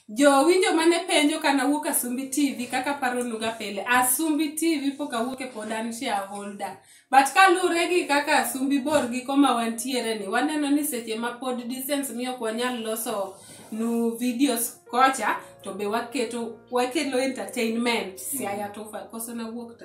Jowinjo mane penjo kana wuok Asumbi TV kaka paro nuga pile. Asumbi TV pok awuok e pod an shareholder. But kaluwre gi kaka Asumbi bor gi koma wantiere ni, waneno ni seche ma pod distance miyo ok wanyal loso nu videos kocha to be waketo wakelo entertainment siaya tofa koso na wuok to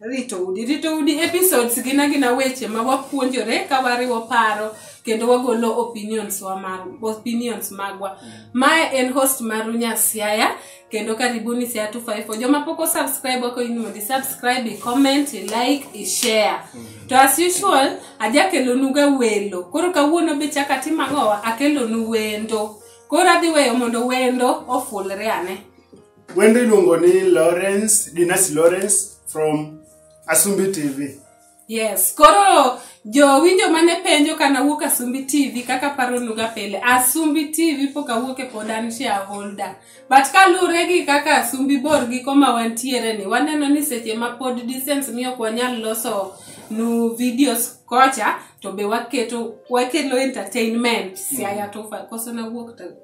rito udi rito udi episodes gina gina weche ma wapuonjore ka wariwo paro kendo wagolo opinions wa mar opinions magwa mae en host maru nyasiaya kendo karibuni siaya 254 joma pok osubscribe wako in mondo isubscribe icomment ilike ishare to as usual ajakelonuga welo koro kawuono be chaka timang'owa akelonu wendo koro adhi weyo mondo wendo ofulre ane Wendo iluongo ni Lawrence, Dinas Lawrence from Asumbi TV. Yes, koro jowinjo mane penjo kana wuok Asumbi TV kaka paro nuga pele. Asumbi TV pok awuok e pod an shareholder. But kalure gi kaka Asumbi bor gi koma wantiere ni waneno ni seche ma pod distance miyo kwa nyal loso nu videos kocha to be waketo wakelo entertainment mm. siaya tofa koso na wuok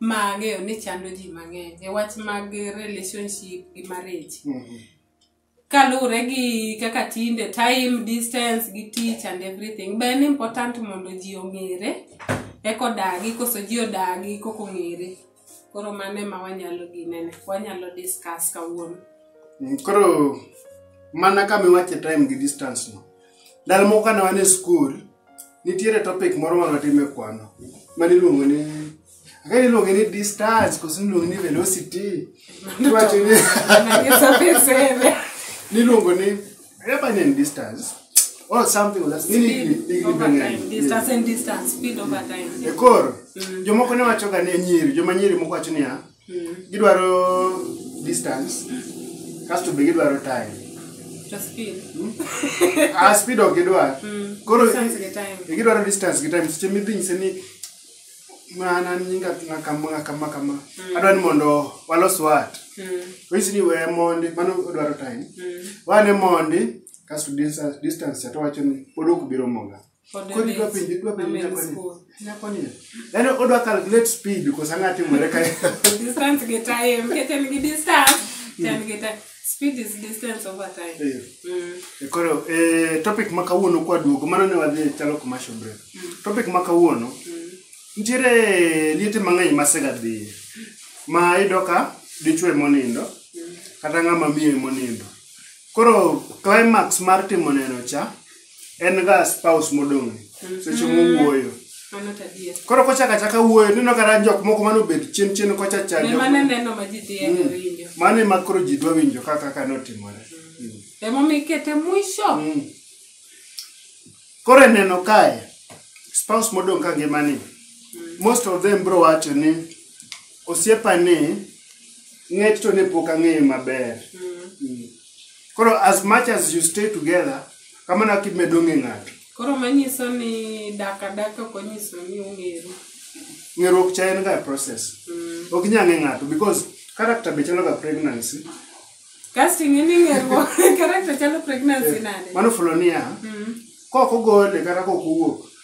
ma ang'eyo ni chando ji mang'eny e wach mag relationship gi marriage kaluwore gi kaka tinde time distance gi tich and everything be en important mondo ji ong'ere eko dagi koso ji odagi koko ng'ere koro mano ema wanyalo ginene wanyalo discuss kawuono Mm, koro mana kama iwache time gi distance no ndalo moko kane wan e skul nitiere topic moro ma watime kwano mane iluongo ni aka iluonge ni distance koso niluonge ni velocity iwacho ni niluongo ni reba ni en distance or something like that. Nini hiki- hiki ni bangani? ekor jomoko ne wachoga ni nyiri joma nyiri moko wacho niya gidwaro distance kasto be gidwaro time To speed. ah speed ok gidwar koro Distance gi time. e gidwaro distance gi time seche midhi nyise ni mana nyinga nga kama nga kama kama adwa ni mondo walos wat Mm. onyisi ni we mondi mano odwaro time wane mondi kasto distance distance to wacho ni pod ok biro moga Kod Kodi dwa penjo, dwa penjo Amen nyakoni. school. Nyakoni. Yaani odwa calculate speed because ang'a timore kae. distance gi time nikech en gi distance to en gi time speed is distance over time Eh. Mm. E Koro eh, topic ma kawuono kwa duogo mano ne wadhi e chalo commercial break. Topic ma kawuono nitiere liete mang'eny ma sega dhiye ma iyudo ka dichwe monindo kata ng'ama miyo monindo. Koro climax mar timo neno cha en ga spouse modong' seche mowuoyo Mano to adier. koro kochaka chaka wuoyo neno kata jok moko mane obet chien chien kocha cha Ne jok- mane neno ma ji dhiye Mm. winjo. mane ma koro ji dwa winjo kaka kaka notimore Mm. Emomiyo ikete mwisho. Mm. koro eneno kae spouse modong' ka ngimani most of them bro wacho ni osiepa ni ng'et to ne pok ang'eyo maber Mm. Mm. koro as much as you stay together kamano kaka imedo ng'e ng'ato koro manyiso ni dak adaka ok onyiso ni ung'eru ng'eruok cha en ga process mm. ok inyal ng'e ng'ato because character be chalo ga pregnancy kasto ing'e ni ng'eruok character chalo pregnancy eh, nade mano fulo niya mm. kok ogole kata kok owuok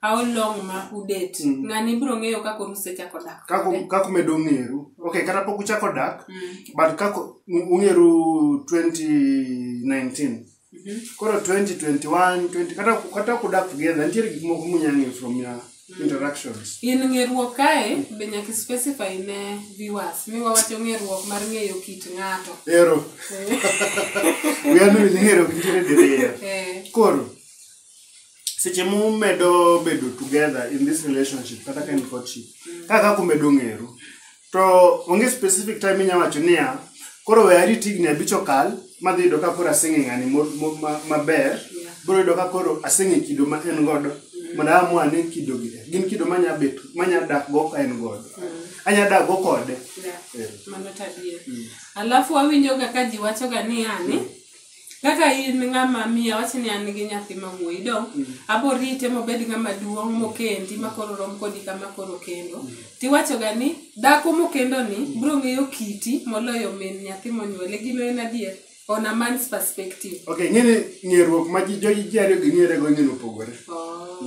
How long ma udet? Mm. Ng'ani biro ng'eyo kaka oru sechako dak. Kako kode. kako medo ng'eru. Okay, kata pok uchako dak, Mm. but kako u- ung'eru 2019. Mhm. Koro 2021, 20 kata kata kudak together, nitiere gik moko munya ng'eyo from your interactions. In ng'eruok kae be nyaka i specify ne viewers. Mi wawacho ng'eruok mar ng'eyo kit ng'ato. Ero, Eh, we are not ng'eru nitiere diriyo. eh. Koro seche mumedo bedo together in this relationship kata ka en courtship kaka kaka umedo ng'eru to onge specific time inya wacho niya koro we arit higni abich okal madhi yudo ka koro aseng'e ng'ani mo- mo- ma- maber biro yudo ka koro aseng'e kido ma en godo mondo amua ni kidogi e. gin kido manya bet manya dak go ka en godo anya dak go kode Yeah. Eh. mano tadie alafu awinjoga ka ji wachoga ni yani kaka in ng'ama miyo awach ni an gi nyathi ma wuoyi do abo rite mobed ng'ama duong' mokendi ma koro rom kodi kama koro kendo tiwachoga ni dhako mokendo ni bro ng'eyo kiti moloyo min nyathi monyuole gino en adier on a man's perspective okay ng'ene ng'eruok ma ji joji ji ariyo gi ng'ere go ng'ene opogore oh.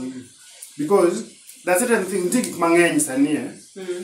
because there are certain things nitie gik mang'eny sani eh? mm.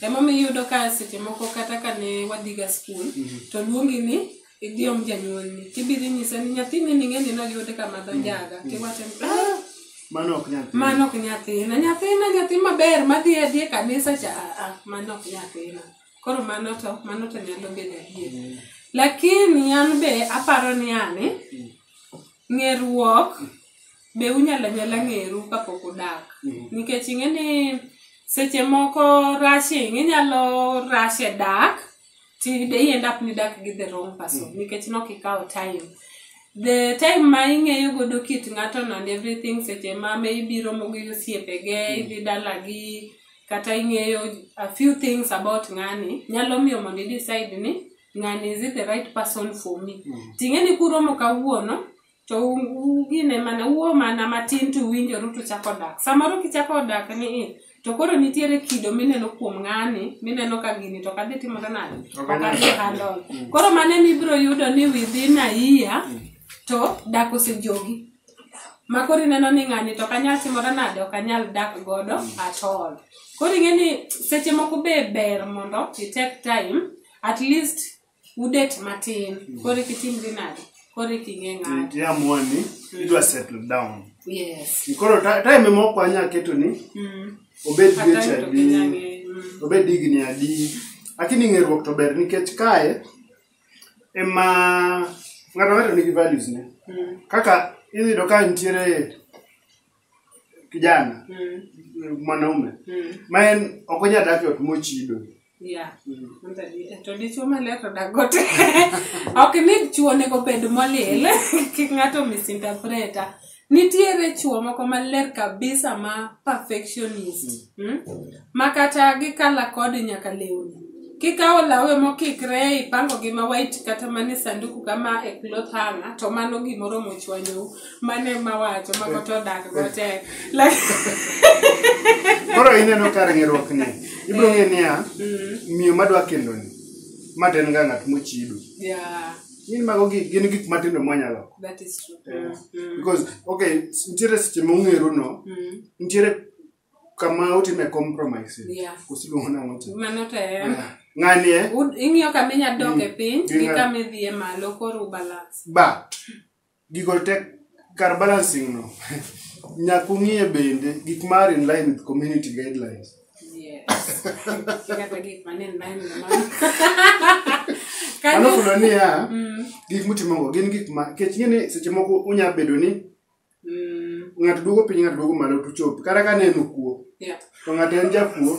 Emomiyo iyudo ka seche moko kata ka ne wadhiga skul, to luongi ni idhi om janyuolni. Tibiro inyise ni nyathini ni ng'eni noyud kama dho njaga. Tiwacho ni, "Ah, Mano ok nyal. mano ok nyathina nyathina nyathi maber madhi adhi e kanisa cha aa mano ok nyathina koro mano to mano to nyalo bedo adier lakini an be aparo ni ani ng'eruok be unyala nyala ng'eru kapok udak Mhm. nikech ing'e ni seche moko rushing inyalo rush e dak to i end up ni dak gi the wrong person nikech nok ikawo time the time ma ing'eyo godo kit ng'ato no and everything seche ma me ibiro mogo gi osiepege idhi dalagi kata ing'eyo a few things about ng'ani nyalo miyo mondo i decide ni ng'ani is it the right person for me ting'e ni kuromo kawuono to u- ugine mana uo mana matin to uwinjoru to chako dak samoro kichako dak ni i, to koro nitiere kido mineno kuom ng'ani mineno ka gini to kadhi timore nade Ok anyal okadhi dak. handol koro mane mibiro yudo ni within a year to dak osejogi ma koro ineno ni ng'ani to kanyal timore nade ok anyal dak godo at all koro ing'e ni seche moko be ber mondo i take time at least udet matin koro kitimri nade koro iking'e ng'ato tiamua ni idwa settle down yes koro ta- time moko anya keto ni mm. obed Kata dweche to adi kinyang'e, mm. obed higni adi lakini ng'eruok to ber nikech kae ema ng'ato ng'ato nigi values ne Mm. kaka iyudo ka nitiere kijana Mm. mwanaume Mm. ma en ok onyal dak e ot mochido Yeah. Manda di- to dichuo maler to dagote ok ni chuo onego bed molil kik ng'ato misinterpreta nitiere chuo moko maler kabisa ma perfectionist mm? ma kata gikala kod nyaka lewni kikawo lawe mokikre ipango gi ma white kata mane sanduku kama e cloth hanger to mano gimoro mochwanyou mane mawacho ma koto odak go tek koro ineno kar ng'eruok ni ibiro ng'e niya mm. miyo madwa kendo ni ma to en ga ng'at mochido gin mago gin gik matindo mwanyalo mm, mm. because okay nitiere seche ma ung'eru no nitiere kama utime compromises kusiluongo nang'o ng'ani e ing'iyo kama inyalo dok e piny gi kama idhi e malo koro balance but Gigo te kar balancing no nyaka ung'iye bende gik ma are in line with community guidelines. Yes. Kata gik ma nen nine na mano. Mano kuno niya, gik mutimogo gin gik ma kech ing'e ni seche moko unya bedo ni Mm, ng'ato duogo piny ng'ato duogo malo tuchop kata ka neno kuo yeah. to ng'ato en jakuo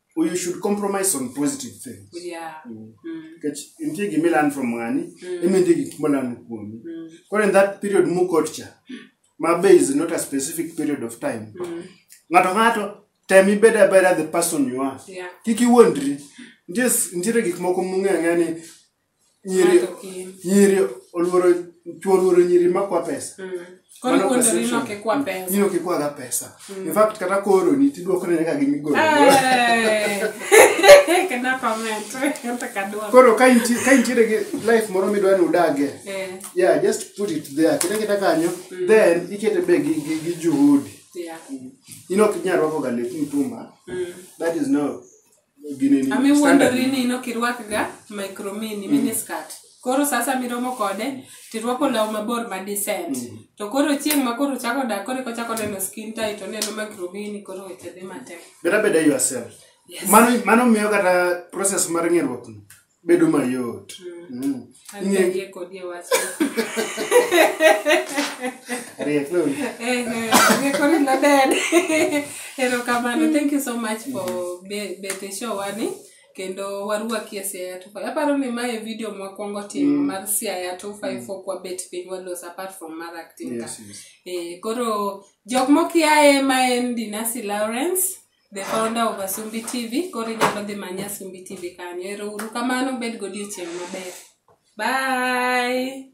Or you should compromise on positive things. Yeah. Mm. Mm. Kech, in tigi milan from ngani, mm. imi tigi kimolan kuomi. Mm. Kore in that period mu kotcha, my bay is not a specific period of time. Mm. Ngato ngato, tell me better better the person you are. Yeah. Kiki wondri, just, ntire gikmoko mungi angani, nyiri Ng'ato kin. nyiri oluoro chuo oluoro nyiri makwa pesa Mm. Koro Mano kuondori perception. nok ikwa pesa. Nyiri ok ikwaga pesa in fact kata kooroni tidwokone nyaka gi migolo Eh. Kena comment. Kata kadwa. koro ka inti- ka intiere gi life moro midwa ni udagie Eh. yeah just put it there kete kete kanyo then ikete be gi, gi, gi juhudi Yeah. in ok inyal rwakoga lep mtumba Mm. that is no gini ni Ami standard. wuondori ni nok irwakga micro mini mini skirt. Koro sasa miromo kode tirwako law mabor ma decent. To koro chieng' ma koro chako dak koro eko chako neno skin tight oneno micro mini koro weche dhi matek. Better better yourself. Yes. Mano mano miyo kata process mar ng'eruok ni. bedo mayot Mm. Ang'egie kodi e wach. Ariek no. Eh, eh, ang'ekori maber. Erokamano. Thank you so much for be- bet e show wani kendo warwaki e Siaya 25. Aparo ni mae video mwakwongo timo mar Siaya 25 ok wabet piny walos apart from mar acting ka. Yes, yes. Eh, koro jok mokiaye ma en Dinasi Lawrence the founder of Asumbi TV. Koro inyalo dhi manya Asumbi TV kanyo. Ero uru kamano, bed godiechieng' maber. Bye!